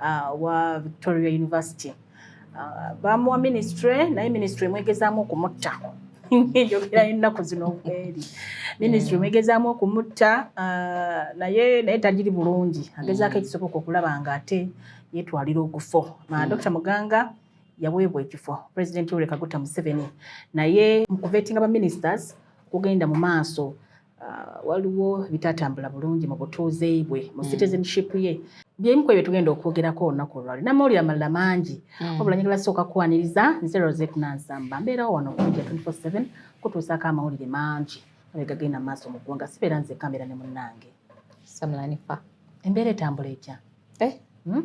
uh, wa Victoria University uh, bamuwa ministry naye ministry emwegezaamu okumutta njogera ennaku zino obweri ministry mm. emwegezaamu okumutta uh, naye naye tagiri bulungi agezaako mm. ekisoboka okulaba nga ate yetwalira okufo mm. Dr Muganga yaweebwa ekifo president Yoweri Kaguta Museveni naye mu kuvetinga ba ministers kugenda mu maaso Uh, waliwo bitatambula bulungi mu butuuze bwe mu hmm. citizenship ye byebimu ku ebyo tugenda okwogerako olunaku olwali namawulire amalala mangi hmm. wabula njagala sooka kuwaniriza nze rosek nansamba mbeerawo wano okunja 247 kutuusaako amawulire mangi abegagenda mu maaso mu ggwanga sibeera nze kamera ne munnange samulanifa embeera etambula etya eh? hmm?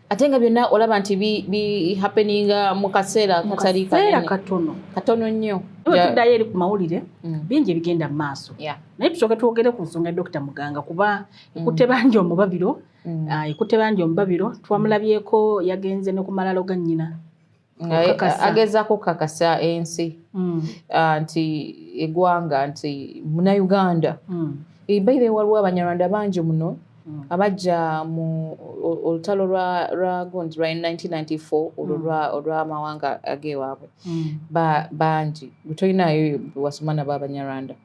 ate nga byonna olaba nti bihapeninga mu kaseera katali katono katono nnyo tuddayo eri ku mawulire mm. bingi ebigenda mu maaso naye tusooke twogere ku nsonga ya dokita muganga kuba mm. ekutte bangi omubabiro mm. ah, ekutte bangi omubabiro twamulabyeko yagenze ne ku malalo ga nnyina agezaako okukakasa ensi mm. ah, nti egwanga nti munauganda mm. eh, baire waliwo abanyarwanda bangi muno mm. abajja mu olutalo lwa gundi lwa 1994 olwo olwamawanga agewaabwe bangi gutolinayo wasoma nabo abanyarwanda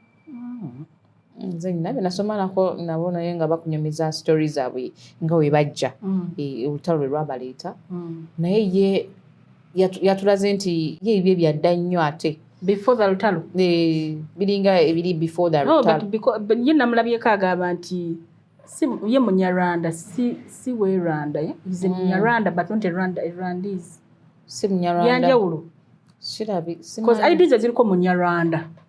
nze nina byenasoma nako nabo naye nga bakunyumiza story zaabwe nga we bajja mm. e, olutalo lwe lwabaleeta mm. naye ye yatulaze nti ye ebyo ebyadda nnyo ate before the lutalo e, biringa ebiri before the lutalo ye namulabyeko agamba nti ye munyarwanda si we rwanda ye is mm. munyarwanda but not a rwanda a rwandis si munyarwanda yanjawulo sirabi because ideas ziriko munyarwanda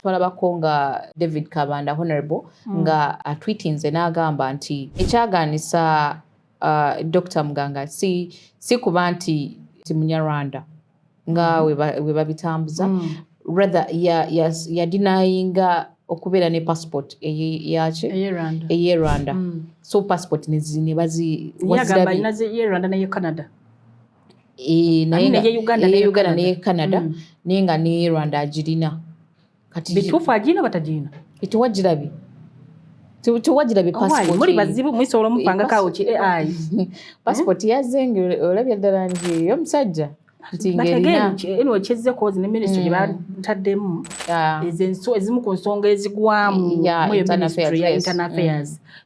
twalabako nga david kabanda honorable mm. nga atwitinze n'agamba nti ekyagaanisa uh, dr muganga si, si kuba nti ti munyarwanda nga mm. webabitambuza mm. rather yadinayinga ya, ya okubeera ne passport eyaki eye rwanda mm. so passport nebaziwaziaye rwanda naye canada naye nga Uganda ne Canada mm. naye nga ne Rwanda agirina kati bituufu agirina batagirina tewagirabye tewagirabye oh, passport muli bazibu mwisobola omupanga kawo ki ai passport hmm? yazze nga olabye ddala nti omusajja kyezekozi ne minisitry gye hmm. bataddemu ezimu ku nsonga ezigwamu mu minisitry ya internal affairs hmm.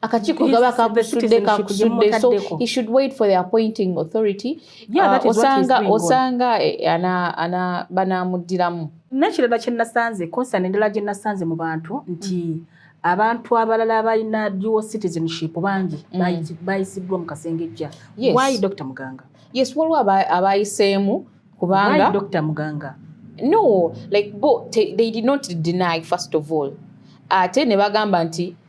akakiiko gaba kakusudde kakusudde so he should wait for the appointing authority yeah, uh, osanga osanga eh, ana ana banamuddiramu nekirala kyenasanze concern endala gye nasanze mu bantu nti mm. abantu abalala abalina dual citizenship bangi mm. bayisiddwa mu kasengejja yes. why dr muganga yes waliwo abayiseemu kubanga dr muganga no like bo they did not deny first of all ate ne bagamba nti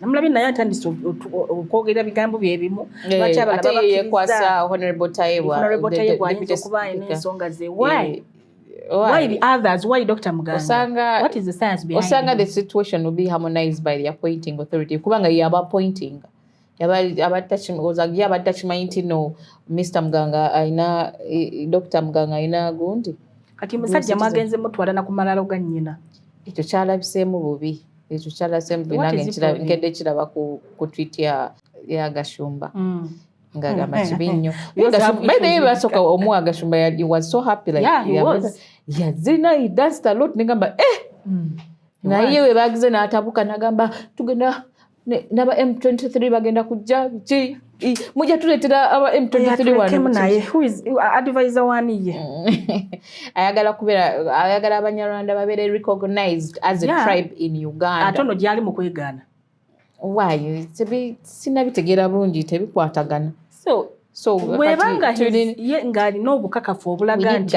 namulabye naye atandise okwogera bigambo byebimu lwaki abalabayekwasaahonorabletayebwaayinzaokubaenensonga ze why Why? the others? Why Dr. Muganga? Osanga, what is the science behind Osanga the situation will be harmonized by the appointing authority. Kubanga yaba appointing. Yaba tachimanyi nti no Mr. Muganga aina Dr. Muganga aina gundi. Kati musajja mwagenze mutwala na kumalalo ga nnyina. Ekyo kyalabiseemu bubi. ekyo kyalase mbu nange nkedde kiraba ku twit ya gashumba mm. ngagamba mm. kibi nnyo naye basooka omuwa agashumba was so happy like yazina he danced a lot negamba eh mm. naye we bagize n'atabuka nagamba tugenda naba m23 bagenda kujja ki mujja tuletera aba m23 advisor waniye ayagala kubera ayagala abanyarwanda babere recognized as a yeah. tribe in uganda ate ono gyali mu kwegaana waayo sinabitegeera bulungi tebikwatagana so so bwebanga ngalina obukakafu obulaga nti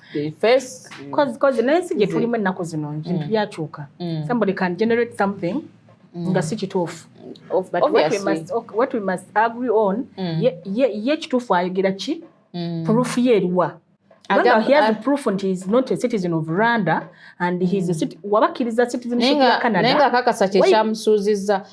naye si gyetulimu ennaku zino mm. bintu byakyuka mm. somebody can generate something mm. nga si kituufu what we must agree on ye kituufu ayogera ki proof ye eriwa waba akkiriza citizenship ya canada naye nga akakasa kyekyamusuuzizza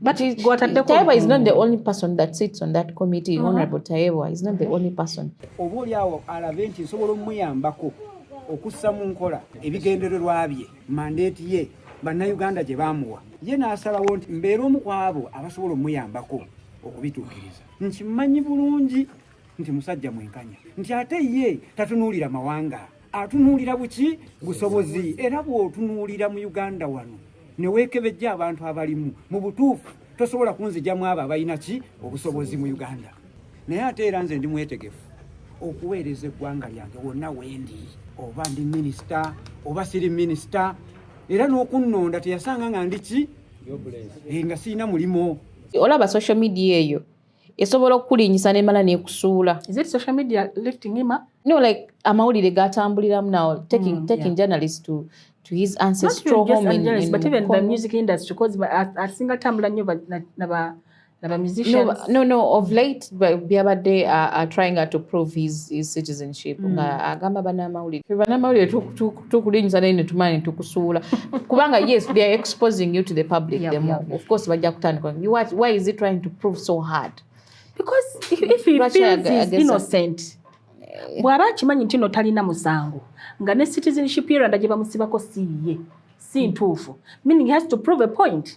But Ki- gwataddeko Tayebwa is not the obukuumi. only person that sits on that committee. Honorable Tayebwa is not the only person. oba oli awo alabe nti nsobola omuyambako okussa mu nkola ebigendererwa bye mandeeti ye bannayuganda gye baamuwa ye n'asalawo nti mbeera omu ku abo abasobola omuyambako okubituukiriza nkimanyi bulungi nti musajja mwenkanya nti ate ye tatunuulira mawanga atunuulira buki busobozi era bw'otunuulira mu uganda wano ne weekebejja abantu abalimu mu butuufu tosobola kunzijamu abo abalina ki obusobozi mu uganda naye ate era nze ndi mwetegefu okuweereza eggwanga lyange wonna wendi oba ndi minisita oba siri minisita era n'okunnonda teyasanga nga ndi ki eh, nga sirina mulimu olaba social media eyo esobola okukulinyisa nemala nekusuula is it social media lifting him up no like amawulire gatambuliramu now taking, mm, taking yeah. journalists to to his ancestral home in, in but even the music industry because asinga tambula nyo naba naba musicians no, no no of late byabadde uh, are trying to prove his, his citizenship mm. nga agamba banamawulire banamawulire tukutuku tukulinza naye netumanya netukusuula kubanga yes they are exposing you to the public yep, the more yep. of course bajja kutandika why is he trying to prove so hard because if he feels is innocent eh. bw'aba akimanyi nti no talina musango nga ne citizenship yeranda gye bamusibako si ye si ntuufu meaning he has to prove a point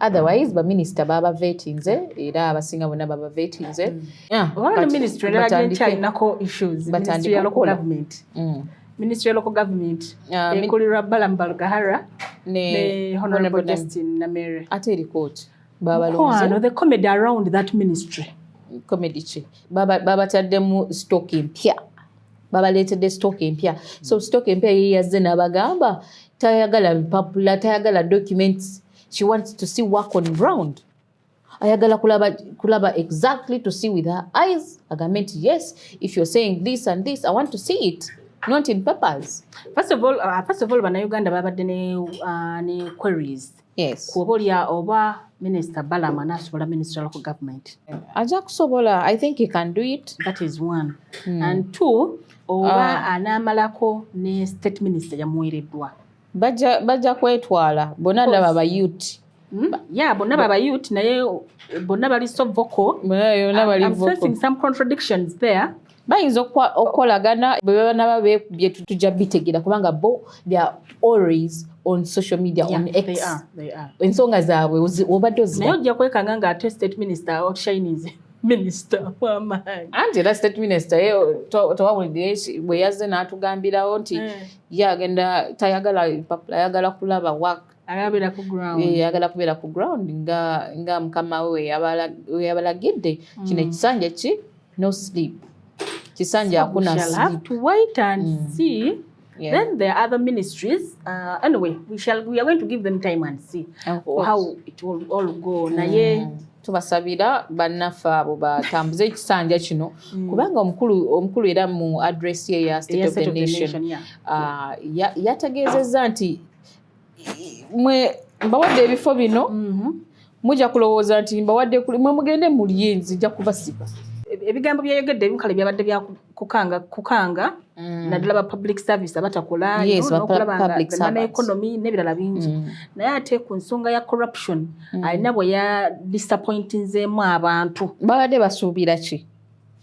otherwise baminisita baba vetinze era abasinga bona baba vetinze mm. ah, ministry ya local government ah, ekulirwa balamu balugahara ne honorable justin namere ate eri court babalonze the comedy around that ministry comedy ki babataddemu stock mpya babaleetedde stock empya so stock empya ye yazze n'abagamba tayagala bipapula tayagala documents she wants to see work on ground ayagala kulaba kulaba exactly to see with her eyes agambe nti yes if you're saying this and this i want to see it not in papers first of all uh, first of all banauganda babadde ne, uh, ne queries Yes. Kuoba olya oba Minister Balama nasobola Minister local government. Aja kusobola, I think he can do it. That is one. Mm. And two, oba uh, ah. anamalako ne state minister yamuwereddwa. Baja baja kwetwala bona ndaba ba youth. Hmm? Yeah, bona baba youth naye bona bali so vocal. Bona yona bali vocal. I'm facing some contradictions there. bayinza okukolagana bwebanaba bekubye tuja bitegera kubanga bo they are always on social media yeah, on X. They are, they are. Ensonga zaabwe obadde ozira. Naye ojja kwekanga nga ate state minister outshines minister wamaanyi. Anti era state minister ye tewawulidde bwe yazze n'atugambirawo nti eh. ye agenda tayagala papula ayagala kulaba work ayagala kubeera ku ground nga mukama we weyabalagidde mm. kino ekisanja ki no sleep kisanja akuna Yeah. Then there are other ministries. Uh, anyway, we shall we are going to give them time and see how it will all go. Mm. Naye tubasabira bannaffe abo batambuze ekisanja kino mm. kubanga omukulu omukulu era mu address ye ya State of the Nation uh, yategeezezza nti mwe mbawadde ebifo bino mhm. mujja kulowooza nti mbawadde mwe mugende mulye nzija kubasiba ebigambo byeyogedde ebimu kale byabadde byakukanga kukanga mm. naddala ba public service abatakola nokulabanaeconomy n'ebirala bingi mm. naye ate ku nsonga ya corruption mm. alina bwe ya disappointinzeemu abantu babadde basuubira ki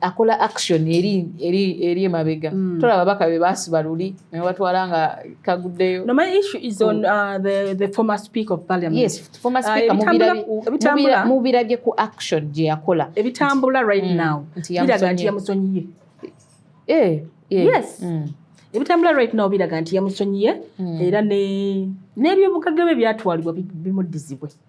akola action eri eri eri emabega mm. tola babaka be basiba luli ne batwala nga kaguddeyo no my issue is on mm. uh, the the former speaker of parliament yes former uh, speaker uh, mubira mubira mubira je ku action je yakola ebitambula right mm. now biraga nti yamusonyiye eh yeah. yes mm. ebitambula right now biraga nti yamusonyiye mm. era ne n'ebyobugagga bye byatwalibwa bimuddizibwe bi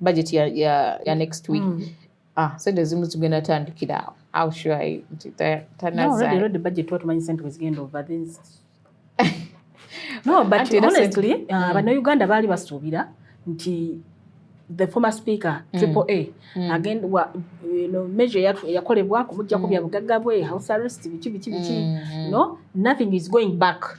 budget ya, ya, ya next week mm. ah, sente ezimu zigenda tandikira awo how sure are you nti tanazalready budget tuba tumanyi sente wezigenda over this no but honestly uh, mm. bannayuganda baali basuubira nti the former speaker mm. triple a mm. agenda wa you know, measure yakolebwa kumujjako mm. bya bugagga bwe house arrest biki biki biki mm. no nothing is going back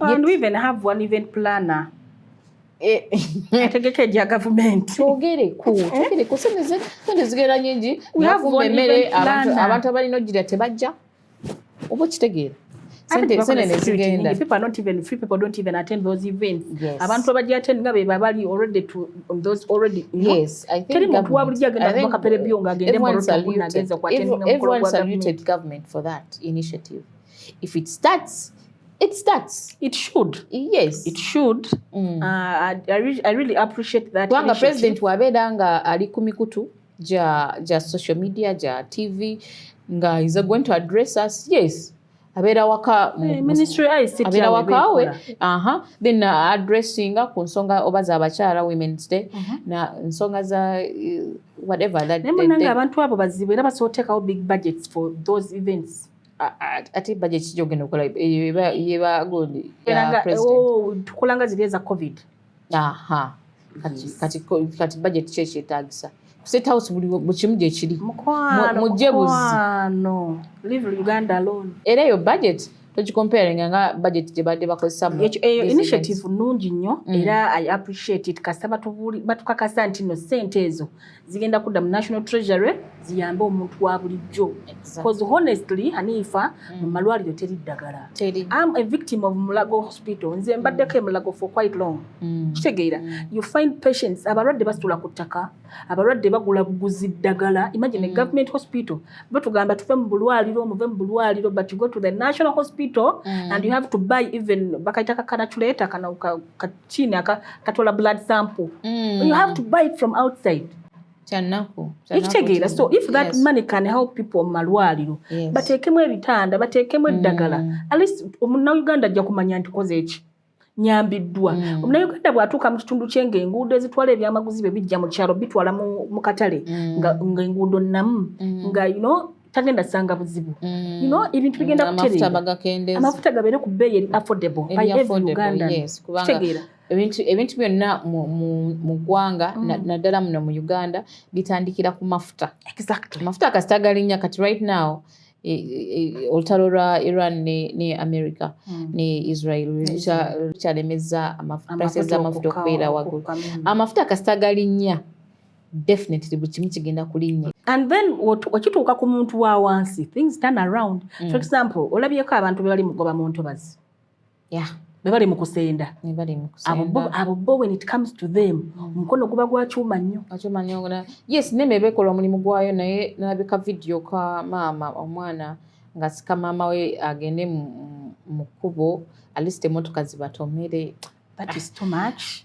And we even have one event planner. ategeka egya gavumenti twogereku twogereku sente zigenda nyingi nafumba emmere abantu abalina ogira tebajja oba okitegeera abantu abajaten nga beba bali teri muntu wabulijjo agenda mubakapera ebyo nga agende if it starts it starts it should yes it should mm. uh, I, I, really, I really appreciate that kubanga president wabeera nga ali ku mikutu ja, ja social media ja tv nga is going to address us yes abeera waka eh, abeera waka we aha then uh, addressinga ku nsonga oba za bakyala women's day uh mhm. -huh. na nsonga za uh, whatever that naye munange abantu abo bazibu era basobola otekawo big budgets for those events ate budget kijja okugenda okola yebagondi oh, tukolanga ziri eza covid aha kati budget ki ekyetagisa state house buli bukimu gyekiri mujje buzi era eyo budget tokikomparinga nga budget gyebadde bakozesainitiative eh, nungi nnyo mm. era i appreciate it kasita batukakasa nti no sente ezo zigenda kudda mu national treasury ziyambe omuntu wa bulijjo bcause honestly hanifa mu mm. malwaliro teri ddagala am a victim of mulago hospital nze mbaddeko mm. emulago for quite long mm. kitegeera you find patients abalwadde basitula ku ttaka abalwadde bagula buguzi ddagala imagine a government hospital batugamba tuve mu bulwaliro muve mu bulwaliro but you go to the national hospital and you have to buy even bakayita kakanaculeta kana chini aka katola blood sample mm. you have to buy it from outside ekitegeera so if that yes. money can help people mumalwaliro yes. bateekemu ebitanda bateekemu eddagala mm. at least omunauganda ajja kumanya nti koze eki nyambiddwa mm. omunauganda bwatuuka mu kitundu kye nga enguudo ezitwala ebyamaguzi bye bijja mu kyalo bitwala mu katale mm. nga enguudo namu mm. nga you know tagenda sanga buzibu mm. you know ebintu bigenda mm, kuterera amafuta gabeere ku bbeeyi eri affordable by every ugandan kitegeera ebintu ebintu byonna mu ggwanga mm. naddala muno mu uganda bitandikira ku mafuta exactly amafuta kasita galinnya kati right now e, e, e, olutalo lwa iran ne, ne america mm. ne israel lukyalemeza prices z'amafuta okubeera waggulu amafuta kasita galinnya definitely buli kimu kigenda kulinnya and then okituuka ku muntu wa wansi things turn around mm. for example olabyeko abantu bebali mugoba mu ntobazi yeah. bebali mu kusenda abo bo when it comes to them mm. omukono mm. guba gwa kyuma nnyo yes neme bekola omulimu gwayo naye nalabika vidiyo ka maama omwana nga sika maama we agende mu kkubo alist emotoka zibatomere that is too much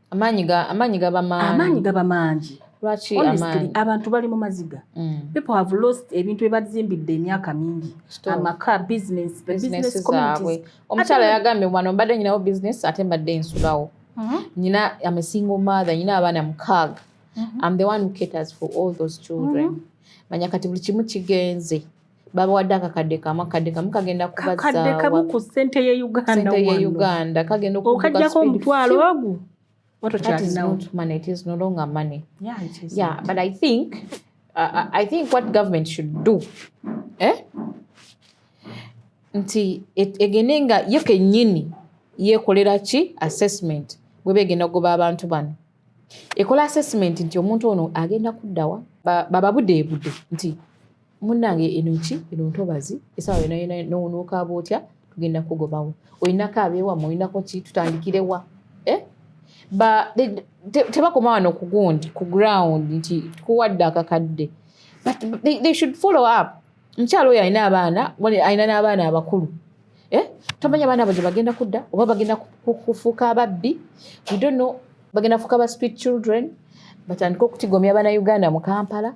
amaanyi ga amaanyi gaba maanyi amaanyi gaba maangi lwaki amaanyi abantu bali mu maziga mm. people have lost ebintu ebazimbidde emyaka mingi amaka business the business communities omukyala yagambye wano mbadde nyinawo business ate mbadde nsulawo mm-hmm. nyina am a single mother nyina abaana mukaaga mm-hmm. am the one who caters for all those children mm-hmm. manya kati buli kimu kigenze babawadde akakadde kamu akadde kamu kagenda kubazakadde kamu ku sente ye uganda ye uganda kagenda okajjako omutwalo ogu nti egende nga ye kenyini yekolera ki assessment bweba egenda okugoba abantu bano ekola assessment nti omuntu ono agenda kuddawa bababudeebude nti munange enoki eno ntobazi esawa yona yona nowonokaaba otya tugenda kugobawo olinako abewamu olinako ki tutandikirewa eh? tebakoma wano kugundi ku ground nti tukuwadde akakadde but they, they should follow up mukyalo oyo alina abaana alina n'abaana abakulu eh? tomanya abaana abo gye bagenda kudda oba bagenda kufuuka ababbi we don't know bagenda kufuuka ba street children batandike okutigomya bana uganda mu kampala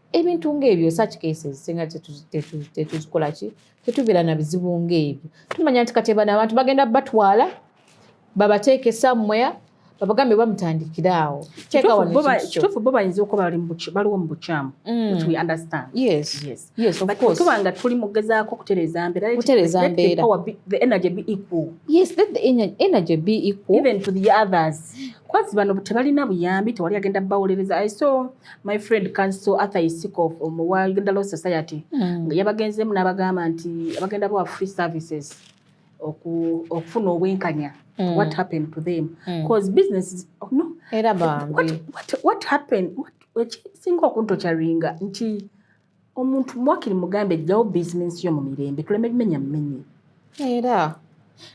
ebintu ngaebyo such cases singa tetuzikola ki tetubeera na bizibu ngaebyo tumanya nti kati bano abantu bagenda batwala babateeka esammwea babagambe bamutandikira awo kituufu bo bayinza okuba baliwo mu bukyamu mm. tuba nga tuli mugezaako kutereeza mbeeraenergy be equal kubazi bano tebalina buyambi tewali agenda bawolereza so my friend council arthur isikof omu wa uganda law society mm. yabagenzemu n'abagamba nti abagenda bawa free services okufuna obwenkanya mm. what happened to them bcause mm. business oh, no era bambi what, what, what happened ekisinga okuntocaringa nti omuntu mwakiri mugambe jjawo bizinensi yo mu mirembe tuleme bimenya mumenye era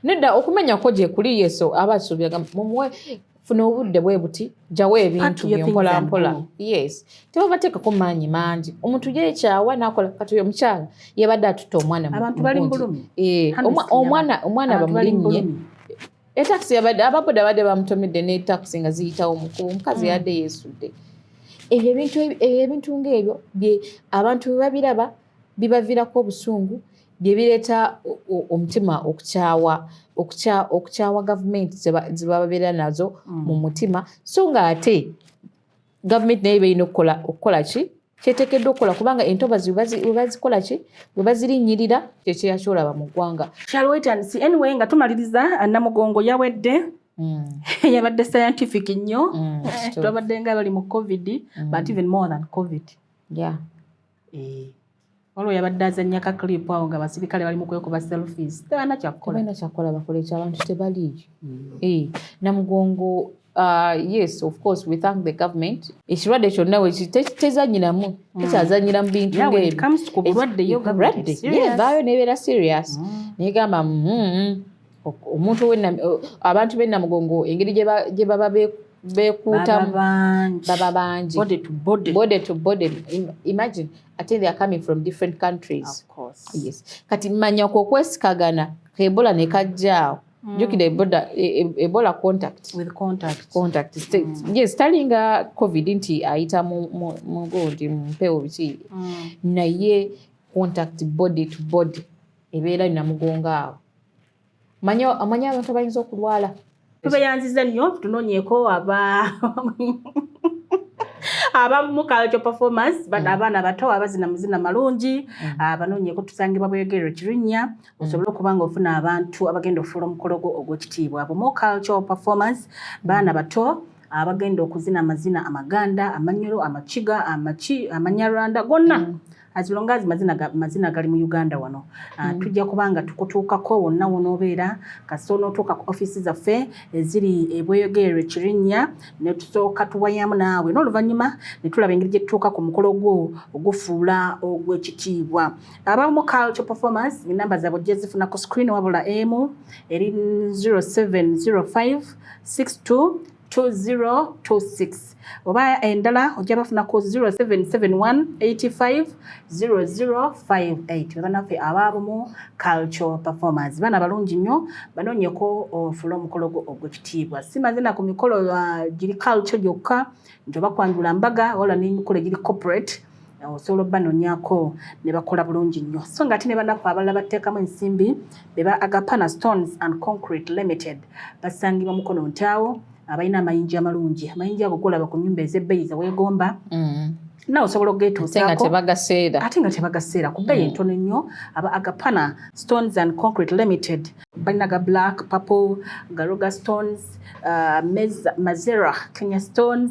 nedda okumenya kwo gye kuli yesu aba asuubiraga mumuwe funa obudde bwe buti jjawo ebintu byempola mpola yes tebabateekako maanyi mangi omuntu yekyawa nakola kati oyo omukyala yabadde atutta omwana omwana eh, omwana bamulinnye etakisi yabadde ababoda badde bamutomedde ne takisi nga ziyitawo mukuba omukazi mm. yadde yeesudde ebyo ebintu ebyo ebintu ng'ebyo bye abantu bwe babiraba bibaviirako obusungu bye bireeta omutima okukyawa okukyawa gavumenti ze babeera nazo mm. mu mutima so ng'ate gavumenti naye beerina okukola okukola ki kyetekeddwa okukola kubanga entobazi webazikola ki webazirinnyirira kyekyeyakyolaba mu ggwanga kyalwetansi anyway nga tumaliriza namugongo yawedde Mm. yabadde scientific nnyo mm, twabadde nga bali mu covid mm. but even more than covid yeah. Eh, waliwo yabadde azannya ka clip awo nga abasirikale bali mu kwekuba selfies tebalina kyakukola balina kyakukola bakole ekyo abantu tebaliiyo mm. eh, namugongo uh, yes of course we thank the government ekirwadde kyonna wekitezanyiramu mm. tekyazanyira mu bintu ngeebyo vaayo nebeera serious mm. negamba mm, mm. omuntu abantu b'e namugongo engeri gye baba bekuutamu baba bangi body to body imagine ate they are coming from different countries yes kati manya kwo okwesikagana kebola ne kajjaawo Mm. jukira eboda e, e, ebola contact with contact contact mm. yes talinga covid nti ayita mugo nti mpewo biki mm. naye contact body to body ebeera namugongo awo manya amanya abantu abayinza okulwala tubeyanziza nnyo tunoonyeko aba abamu culture performance bano mm. abaana abato abazina muzina malungi mm. ah, banoonyeko tusangibwa bweyogerero kirinnya mm. osobole okuba nga ofuna abantu abagenda okufuula omukolo gwo ogw'ekitiibwa bumu culture performance baana bato abagenda okuzina amazina amaganda amanyolo amakiga amanyarwanda gonna as long as mazina mazina gali mu Uganda wano uh, mm. tujja kubanga tukutuukako wonna wonoobeera kasita onootuuka ku offiisi zaffe eziri eh, ebweyogererwa ekirinya ne tusooka tuwayamu naawe n'oluvannyuma ne tulaba engeri gye tutuuka ku mukolo gwo ogufuula ogw'ekitiibwa abamu culture performance enamba zaabwe ojja zifuna ku screen wabula emu eri 0705 62 2026 oba endala ojja bafuna ku 0771850058 banaffe abaabumu cultural performance bana balungi nnyo banoonyeko ofula omukolo gwo ogwekitiibwa si mazina ku mikolo ah, giri culture gyokka nti oba kwanjula mbaga wala n'emikolo egiri corporate osobola obanonyako nebakola bulungi nnyo so nga ate ne banaku abalala batteekamu ensimbi beba agapana stones and concrete limited basangibwa mukono ntaawo abalina amayinja amalungi amayinja ago golaba ku nyumba ez'ebbeyi zeweegomba mm. nawe osobola okugetuusaako ate nga tebagaseera ku bbeeyi mm. entono ennyo aba agapana stones and concrete limited balina ga black purple garoga stones uh, mazera kenya stones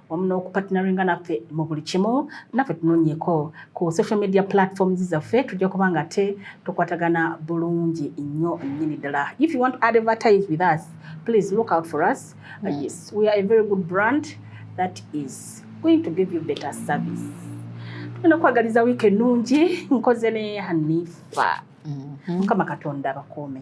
wamu n'okupatinaringa naffe mu buli kimu naffe tunonyeko ku social media platforms zaffe tujja kuba nga te tukwatagana bulungi nnyo nnyini ddala if you want to advertise with us please look out for us uh, mm. yes we are a very good brand that is going to give you better service tugenda kwagaliza wiiki ennungi nkoze ne hanifa mm-hmm. mukama katonda abakuume